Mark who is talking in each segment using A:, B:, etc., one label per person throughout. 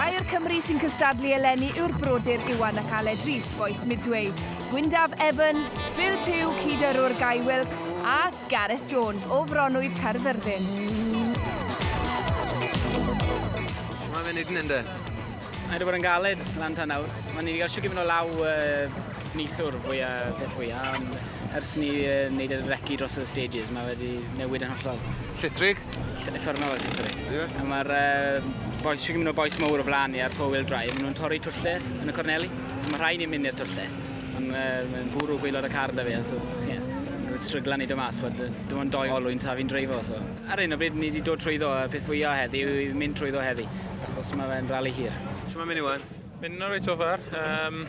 A: Rhai o'r Cymry sy'n cystadlu eleni yw'r brodyr Iwan ac Aled Rees, bois Midway, Gwyndaf Evan, Phil Pugh, cyd-yrrwr Guy Wilkes, a Gareth Jones, o Fronwydd Caerfyrddin.
B: Mae'n mynd i ddyn, ynde? Mae wedi bod yn
C: galed lan tan nawr. Mae ni wedi cael siwgr mynd o law uh, neithwr fwy a peth fwy a ond ers ni uh, wneud y recu dros y stages mae wedi newid yn hollol. Llithrig?
B: Effernol o
C: llithrig. Yeah. A mae'r uh, boes, siwgr mynd o boes mawr o flan ni ar four-wheel drive, maen nhw'n torri twlle yn y corneli. So mae rhai ni'n mynd i'r twlle. Ond uh, mae'n bwrw gweilod y car da fi, so ie. Yeah yn stryglan i do mas, chod, dim ond doi olwyn sa fi'n dreifo. So. Ar un o bryd, ni wedi dod trwyddo, y peth fwyaf heddi yw mynd trwyddo heddi. achos mae fe'n rali hir. Sut mae'n mynd i wan?
B: Mynd yn reit so far.
D: Um,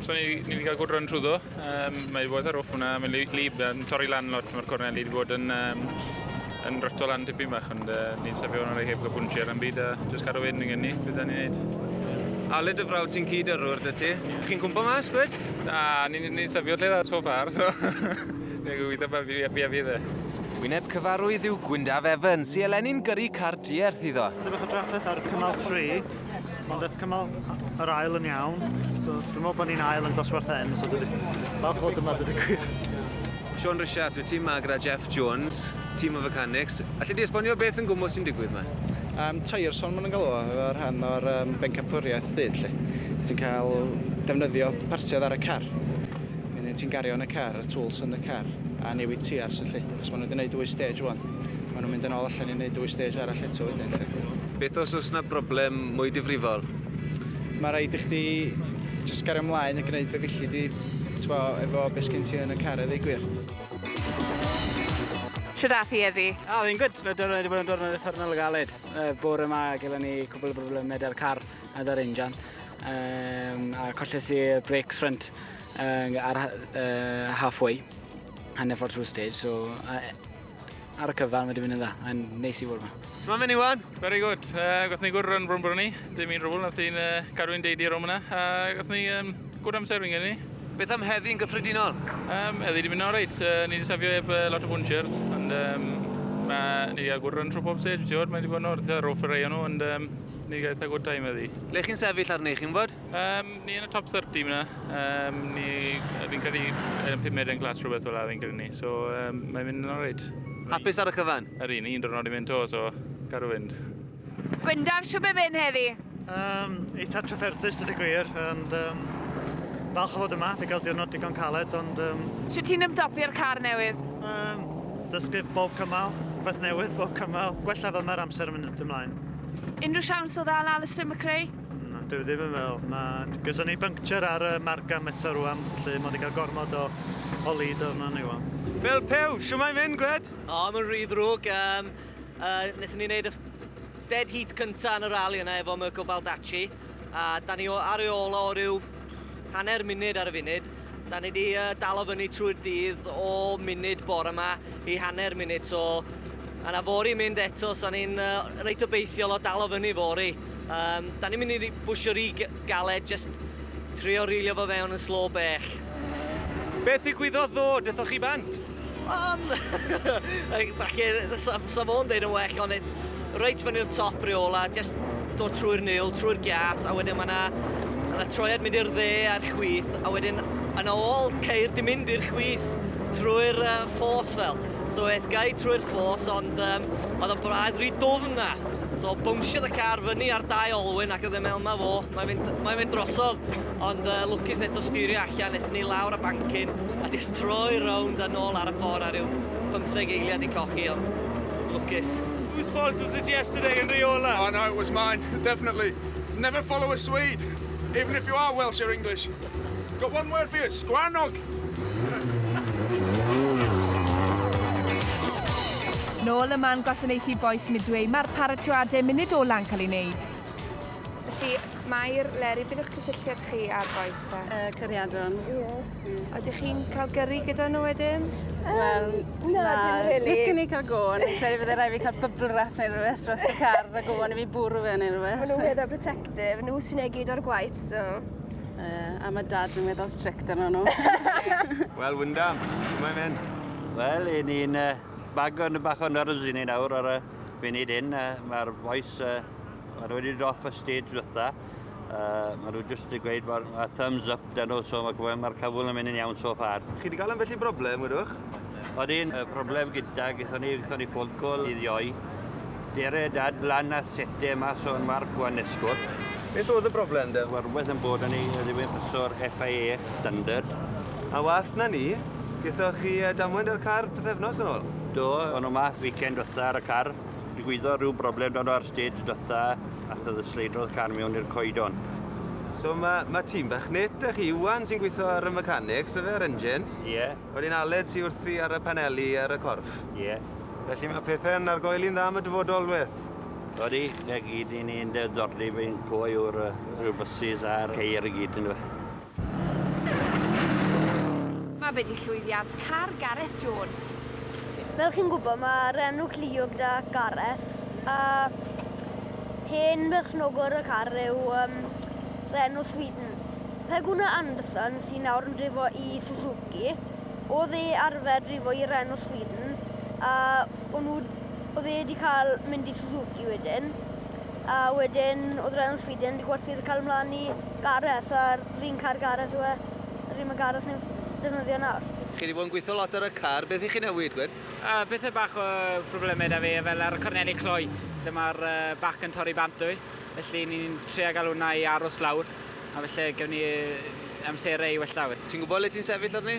D: so ni, ni wedi cael gwrdd rhan trwyddo. Um, mae wedi bod ar off hwnna, mae'n lib, yn torri lan lot, mae'r cornel wedi bod yn, um, yn rhytol lan tipyn bach, ond uh, ni'n sefio hwnna rhaid heb gael bwnsio ar yn byd, a jyst cadw wedyn yn gen ni, beth da ni'n neud. A le dy frawd sy'n
B: cyd yrwr dy ti? Yeah. Chi'n cwmpa mas, gwed? Na, ni'n ni,
D: ni sefio lle dda so far, so... Dwi'n gobeithio bod fi fi a fi dde. Wyneb cyfarwydd
B: yw Gwyndaf Evans, i eleni'n gyrru car diarth iddo. Dwi bach o drafferth ar
E: cymal 3, ond daeth cymal yr ail yn iawn, so dwi'n meddwl bod ni'n ail yn dosbarth hyn, so dwi falch fod yma dydw gwir. Sean
B: Richards, wyt ti yma gyda Jeff Jones, tîm o fecanics. Alli di esbonio beth yn gwmwys sy'n digwydd yma? Um, tyres o'n
F: mynd yn galw, efo rhan o'r um, bencampwriaeth byd, lle. Ti'n cael defnyddio partiodd ar y car. Yn yn ti'n gario yn y car, y tools yn y car, a newid tiars felly. Achos maen nhw wedi gwneud dwy stage wan. Maen nhw'n mynd yn ôl allan i wneud dwy stage arall eto wedyn felly. Beth os oes na
B: broblem mwy difrifol? Mae
F: rhaid i chdi just gario ymlaen a gwneud be felly di, twa, efo beth sgyn ti yn y car eddi gwir.
A: Shwd ath hi eddi? A, fi'n gwyd, mae dod wedi
C: bod yn diwrnod uffernol o galed. Uh, bore yma gyda ni cwbl o broblemau da'r car a da'r injan. Um, a colles i'r brakes front Uh, ar uh, halfway, hanner ffordd trwy stage, so uh, ar y cyfan wedi mynd yn dda, yn neis i fod yma. Mae'n mynd Iwan? Very
B: good. Uh,
D: gath ni gwrdd rhan brwn brwn ni, dim i'n rhywbeth, nath i'n uh, cadw i'n deidi ar ôl yna, a gath ni um, gwrdd amser fi'n gen ni. Beth am heddi yn
B: gyffredinol? Um, heddi wedi mynd
D: o'n reit, uh, ni wedi safio eb uh, lot o bwnchers, ond um, mae ni wedi agwrdd rhan trwy pob stage, ti'n gwybod, mae wedi bod yn orth, roll ar ei nhw, ond um, ni wedi cael eitha good time heddi. Le chi'n sefyll arni,
B: chi'n bod? Um, ni yn y top 30
D: yna. Um, ni, fi'n credu yn y 5 medden glas rhywbeth fel la fi'n credu ni. So um, mae'n mynd yn alright. Hapus ar y cyfan?
B: Yr un, un drwrnod i mynd to,
D: so gadw fynd. Gwyndaf,
A: siw be mynd heddi? Um, eitha
E: trafferthus, dydy gwir, ond um, falch o fod yma, fe gael diwrnod digon caled, ond... Um, Siw ti'n ymdopi'r
A: car newydd? Um, dysgu
E: bob cymal, rhywbeth newydd bob cymal, gwella fel mae'r amser yn mynd ymlaen. Unrhyw siawns
A: o ddal Alistair McRae? Na, dwi ddim yn
E: fel. Na, gyda ni buncture ar y margan eto rwan, felly mae wedi cael gormod o, o lid o'n ni wan. Fel pew, siw
B: mae'n mynd, Gwed? O, oh, mae'n rhy ddrwg.
G: Um, uh, Nethon ni wneud y dead heat cynta yn y rali yna efo Mirko Baldacci, a da ni ar ei ôl o ryw hanner munud ar y funud. Da ni di uh, dalo fyny trwy'r dydd o munud bore yma i hanner munud, so a na fori mynd eto, so ni'n uh, reit obeithiol o dalo fyny fori. Um, da ni'n mynd i bwysio rhi galed, just trio rilio fo fewn yn slo bech.
B: Beth ddigwyddodd ddo, dythoch chi bant? Yym
G: falle 'sa 'sa fo'n deud yn well ond yy reit fyny'r top reola jyst dod trwy'r niwl, trwy'r giât a wedyn ma' 'na ma' 'na troiad mynd i'r dde a'r chwith a wedyn yn ôl ceir di mynd i'r chwith trwy'r yy ffos fel. So eth gai trwy'r ffos ond yym o'dd o'n braidd ry dwfn a so bownsiodd y car fyny ar dau olwyn ac o'dd e me'wl 'ma fo, mae'n mynd mae'n mynd drosodd. Ond yy lwcus nethon nhw stirio allan, nethon ni lawr y bancyn a jyst troi rownd a nôl ar y ffordd a ryw pymtheg eiliad i cochi ond lwcus. Whose fault was it
B: yesterday yn rheola? Oh no, it was mine,
H: definitely. Never follow a Swede, even if you are Welsh or English. Got one word for you, sgwarnog!
A: Nôl ym man gwasanaethu bois Midway, mae'r paratoadau munud ola'ncael ei wneud. Felly, Mair, Leri, beth yw'ch cysylltiad chi â'r bois te? Uh, cariadon.
I: Ie.
A: Yeah. A ydych chi'n cael gyrru gyda nhw wedyn? Um, Wel,
I: na, na dim really. Licen i cael gôn. Credu fydde rhaid fi cael bubble wrap neu rhywbeth dros y car a gôn i fi bwrw fe neu rhywbeth. Mae nhw'n weddol protective,
J: nhw sy'n ei gyd o'r gwaith, so... Uh, a
I: mae dad yn weddol strict arno nhw. Wel,
B: Wyndham, mae'n mynd. Wel, i ni'n
K: uh, bago yn y bach o'n nyrws i ni nawr ar y funud hyn. Uh, Mae'r boes uh, Mae nhw wedi dod y stage ddiwetha. Uh, mae nhw jyst wedi gweud bod uh, thumbs up dyn nhw, so mae'r ma cyfwyl yn mynd yn iawn so far. Chi wedi cael yn felly broblem,
B: gwydwch? Oedd un uh,
K: broblem gyda, gyda ni, gyda ni ffôn col i ddioi. Dere dad lan a sete mas o'n marc wan esgwrt. Beth oedd y broblem
B: da? Wel, rhywbeth yn bod yn ei
K: ddywyn pasor FIA standard. A wath
B: na ni, gyda chi damwain ar y car pethefnos yn ôl? Do, o'n nhw mas
K: weekend wrtha ar y car. Digwyddodd rhyw broblem dan ar stage dytha a thyddysleidrodd car mewn i'r coedon. So mae,
B: mae tîm bach net â chi, Iwan sy'n gweithio ar y mechanics, y fe'r engine. Ie. Yeah. Wedyn
K: Aled sy'n
B: wrthi ar y paneli ar y corff. Ie. Yeah. Felly
K: mae pethau'n
B: argoeli'n dda am y dyfodol, Weth. Odi, na
K: gyd i ni'n ddiddordeb yn cwy o'r uh, buses a'r ceir i gyd yn dweud.
A: Mae be' 'di llwyddiant car Gareth Jones? Fel chi'n
J: gwybod mae Renault Clio gyda Gareth a hen berchnogwr y car yw um, Renault Sweden. Pe gwna Anderson sy'n nawr yn drifo i Suzuki, oedd e arfer drifo i Renault Sweden a o'n nhw, oedd e wedi cael mynd i Suzuki wedyn. A wedyn oedd rhaid yn Sweden wedi gwerthu i'r cael ymlaen i Gareth a'r un car Gareth yw e. Yr un mae Gareth newydd ddefnyddio nawr. Chi wedi bod yn gweithio lot
B: ar y car, beth i chi newid gwed? Yy pethe bach o
C: problemau da fe fel ar y corneli cloi lle ma'r yy bac yn torri bant dw i felly ni'n trio ga'l hwnna i aros lawr a falle gewn ni yy amserau i wella fe. Ti'n gwbo le ti'n sefyll arni?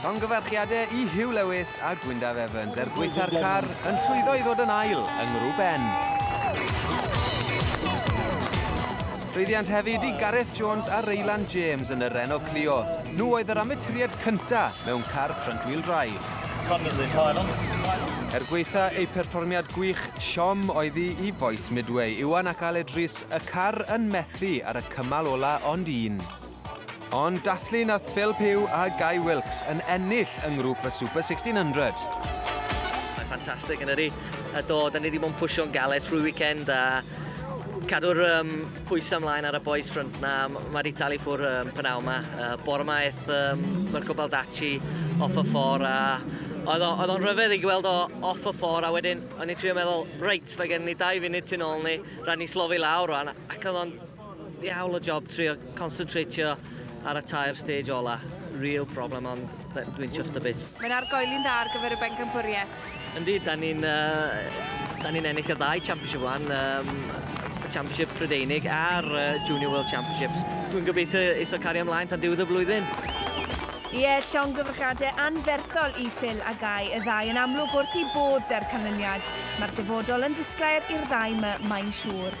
E: Llongyfarchiadau
B: i Huw Lewis a Gwyndaf Evans er gwaetha'r car yn llwyddo i ddod yn ail yng Ngrŵp Ben. Llwyddiant hefyd i Gareth Jones a Reylan James yn y Renault Clio. Nhw oedd yr amaturiad cynta mewn car front-wheel drive. Er gweitha eu perfformiad gwych, siom oedd hi i Fois Midway, Iwan ac Aled Rhys, y car yn methu ar y cymal ola ond un. Ond dathlu nath Phil Pugh a Guy Wilkes yn ennill yng ngrŵp y Super 1600. Mae'n
G: ffantastig yn ydy. A do, da ni wedi bod yn pwysio'n galed trwy weekend a cadw'r um, pwysau ymlaen ar y boys front na. Mae wedi talu ffwr um, pnaw yma. Uh, bore yma eith um, Mirko Baldacci off y ffordd a oedd o'n rhyfedd i gweld o off y ffordd a wedyn o'n i'n trio meddwl, reit, mae gen ni dau funud tu ôl ni, rhaid ni slofi lawr o'n ac oedd o'n Diawl o job trio concentrateio ar y tair stage ola. Real problem ond dwi'n chuffed a bit. Mae'n argoeli'n dda ar
A: gyfer y bencampwriaeth. Yndi, da ni'n
G: uh, da ni'n ennill y ddau championship wan, um, y championship Prydeinig a'r uh, Junior World Championships. Dwi'n gobeithio eitho cario ymlaen tan diwedd y flwyddyn. Ie,
A: llongyfrychiadau anferthol i Phil a Gai, y ddau yn amlwg wrth i bod da'r canlyniad. Mae'r dyfodol yn ddisglair i'r ddau my, mae'n siŵr.